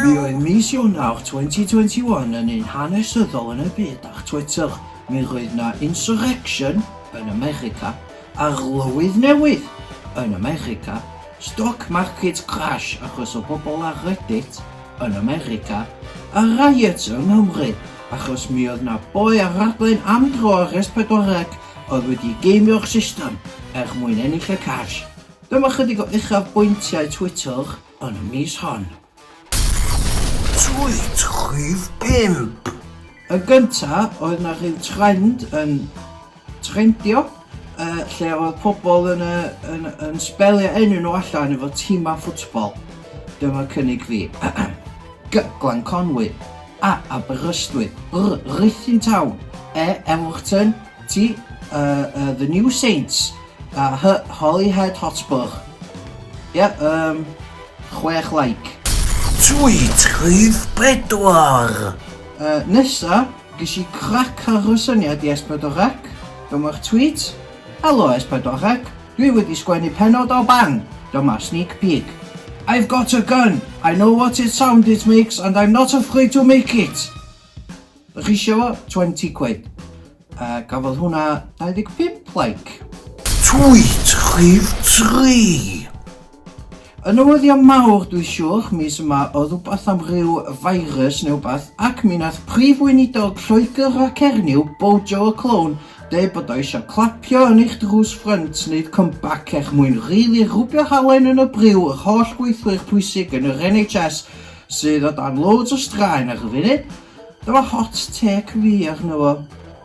Mi oedd mis Ionawr 2021 yn un hanesyddol yn y byd ar Twitter. Mi roedd 'na insurrection yn America. Arlywydd newydd! Yn America, stock markets crash achos o bobl ar Reddit yn America, a riots yng Nghymru achos mi oedd 'na boi ar raglen Am Dro ar S40C oedd wedi geimio'r system er mwyn ennill y cash. Dyma chydig o uchafbwyntiau Twitter yn y mis hon. Tweet rhif pump. Yn gynta, oedd 'na rhyw trend yn trendio, yy, lle oedd pobl yn yy yn yn sbelio enw nhw allan efo timau ffwtbol. Dyma cynnig fi. G, Glanconwy. A, Aberystwyth. R, Ruthin Town. E, Elwrton. T, yy yy The New Saints. A hy Holyhead Hotspur. Ie yym chwech like. Sweet rhif pedwar! Yy nesa ges i crac ar fy syniad i S4C, dyma'r tweet, Helo S4C, dwi wedi sgwennu pennod o Bang! Dyma sneak peek. I've got a gun! I know what it sound it makes and I'm not afraid to make it! Ych isio fo? Twenty quid. Uh, gafodd hwnna 25 like. Tweet chif 3! Yn newyddion mawr, dwi siwr, mis yma o rhywbeth am ryw virus neu wbath, ac mi nath prif weinidog Lloegr a Cernyw, Bojo y Clown, dweud bod o eisiau clapio yn eich drws ffrynt, wneud comeback eich mwyn rili rhwbio halen yn y briw yr holl gweithwyr pwysig yn yr NHS sydd o dan loads o straen ar y funud. Dyma hot take fi arno fo.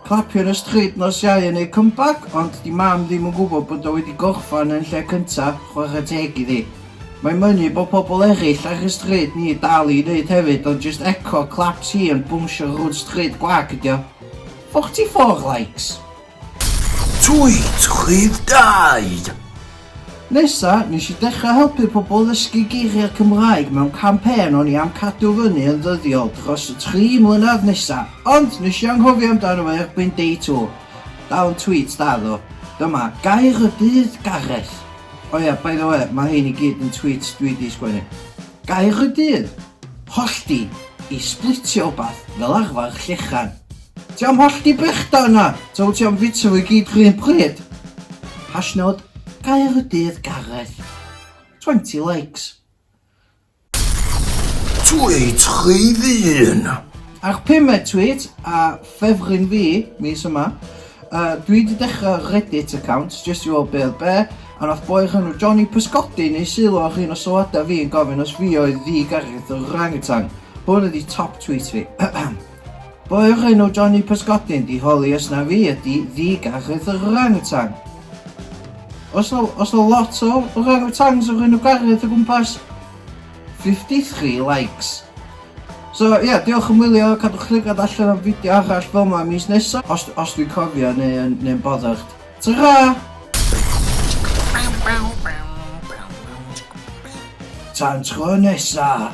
Clapio yn y stryd nos Iau yn neud comeback ond 'di mam ddim yn gwybod bod o wedi gorffan yn lle cynta, chwarae teg iddi. Mae'n mynnu bod pobl eraill ar y stryd ni dal i neud hefyd ond jyst eco claps hi yn bownsio rownd stryd gwag ydi o. 44 likes! Tweet rhif dau! Nesa, nes i dechrau helpu pobl ddysgu geiriau Cymraeg mewn campaign o'n i am cadw fyny yn ddyddiol dros y tri mlynedd nesa, ond nes i anghofio amdano fo erbyn day two. Dal yn tweet da ddo. Dyma, Gair y Dydd, Gareth. O ia, by the way, ma hein i gyd yn tweets dwi di sgwennu. Gair y Dydd, Hollti, i splitio wbath, fel arfar llechan. Ti am hollti brechda yna, ta wyt ti am fita fo i gyd r'un pryd? Hashnod Caerdydd Gareth 20 likes. Tweet rhydd un! Ar pumed tweet a ffefryn fi mis yma, yy dwi 'di dechra Reddit account jyst i weld be' oedd be', a nath boi o'r enw Johnny pysgodi neu sylw ar un o sylwada fi yn gofyn os fi oedd ddi Gareth yr orangutan. Hwn ydi top tweet fi. Boi o'r enw Johnny Pysgodyn 'di holi os na fi ydi ddi-garreg yr orang-wtan. Os na, os na lot o orang-wtans o'r enw Gareth o gwmpas, 53 likes. So ie, yeah, diolch am wylio, cadwch llygad allan am fideo arall fel yma mis nesa, os, os dwi'n cofio neu yn, neu yn boddach. Ta-ra! Tan tro nesa,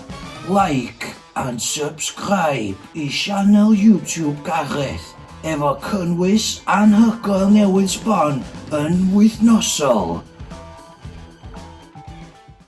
like! And subscribe i sianel YouTube Gareth efo cynnwys anhygoel newydd sbon yn wythnosol.